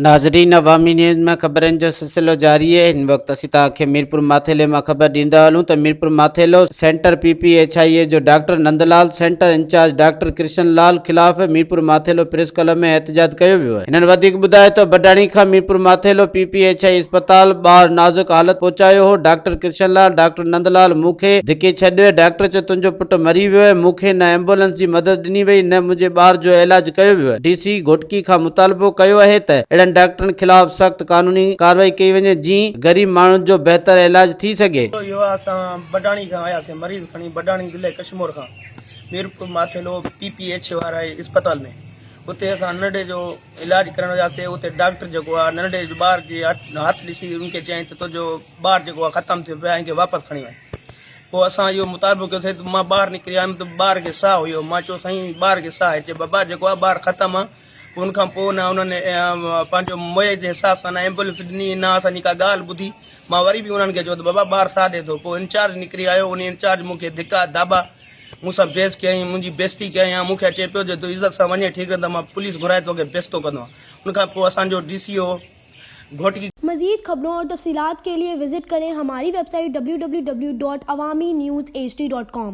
ناظرين عوامي نيوز ۾ خبرن جو سلسلو جاري آهي هن وقت اسين توهان کي ميرپور ماٿيلي مان خبر ڏيندا هلون ته Mirpur Mathelo centre P P H I E جو doctor Nandlal centre in charge doctor Krishan Lal خلاف ميرپور ماٿيلو پريس ڪلب ۾ احتجاج ڪيو ويو آهي هنن وڌيڪ ٻڌايو ته بڊاڻي کان Mirpur Mathelo P P H I E اسپتال ٻاهر نازڪ حالت پهچايو هو ڊاڪٽر ڪرشن لال ڊاڪٽر نندلال، مون کي ڌڪي ڇڏ. ڊاڪٽر چيو، تنهنجو پٽ مري ويو آهي. مون کي نه ايمبولنس جي مدد ڏني وئي، نه منهنجي ٻار جو علاج ڪيو ويو آهي. ڊي سي گهوٽڪي کان مطالبو ڪيو اهي ته اهڙن ڊاڪٽرن خلاف سخت قانوني ڪارروائي ڪئي وڃي، جيئن غريب ماڻهن جو بهتر علاج ٿي سگهي. ڪيو ويو آهي، اسان بڊاڻي کان آيا سين مريض کڻي، بڊاڻي ضلعي ڪشمور کان Mirpur Mathelo P P H واري اسپتال ۾ اتي اسان ننڍي جو. علاج ڪرڻ وياسي اتي ڊاڪٽر جيڪو آ ننڍي ٻار جي هٿ ڏسي ان کي چيائين ته تنهنجو ٻار جيڪو آ ختم ٿيو پيو آ ان کي واپس کڻي وڃ پوء اسان اهو مطالبو ڪيو سائين مان ٻاهر نڪري آيم ته ٻار کي ساهه هيو مان چيو سائين ٻار کي ساهه چي بابا جيڪو آ ٻار ختم آ پوء ان کان پوء نه انهن پنهنجو موئي جي حساب سان نه ايمبولينس ڏني نه اسان جي ڪا ڳالهه ٻڌي مان وري به انهن کي چيو ته بابا ٻار ساهه ڏي ٿو پوء انچارج نڪري آيو ان انچارج مون کي ڌڪا ڌاٻا مون سان بحث ڪيائين منهنجي بيزتي ڪيائين ها مون کي چئي پيو جي تو عزت سان وڃين ٺيڪ نه ته مان پوليس گهرائي تو کي بيزتو ڪندو ان کان پوء اسان جو ڊي سي او گهوٽڪي مزيد خبرون اور تفصيلات ڪي لئي وزٽ ڪرين ھماري ويب سائيٽ www.awaminews.hd.com.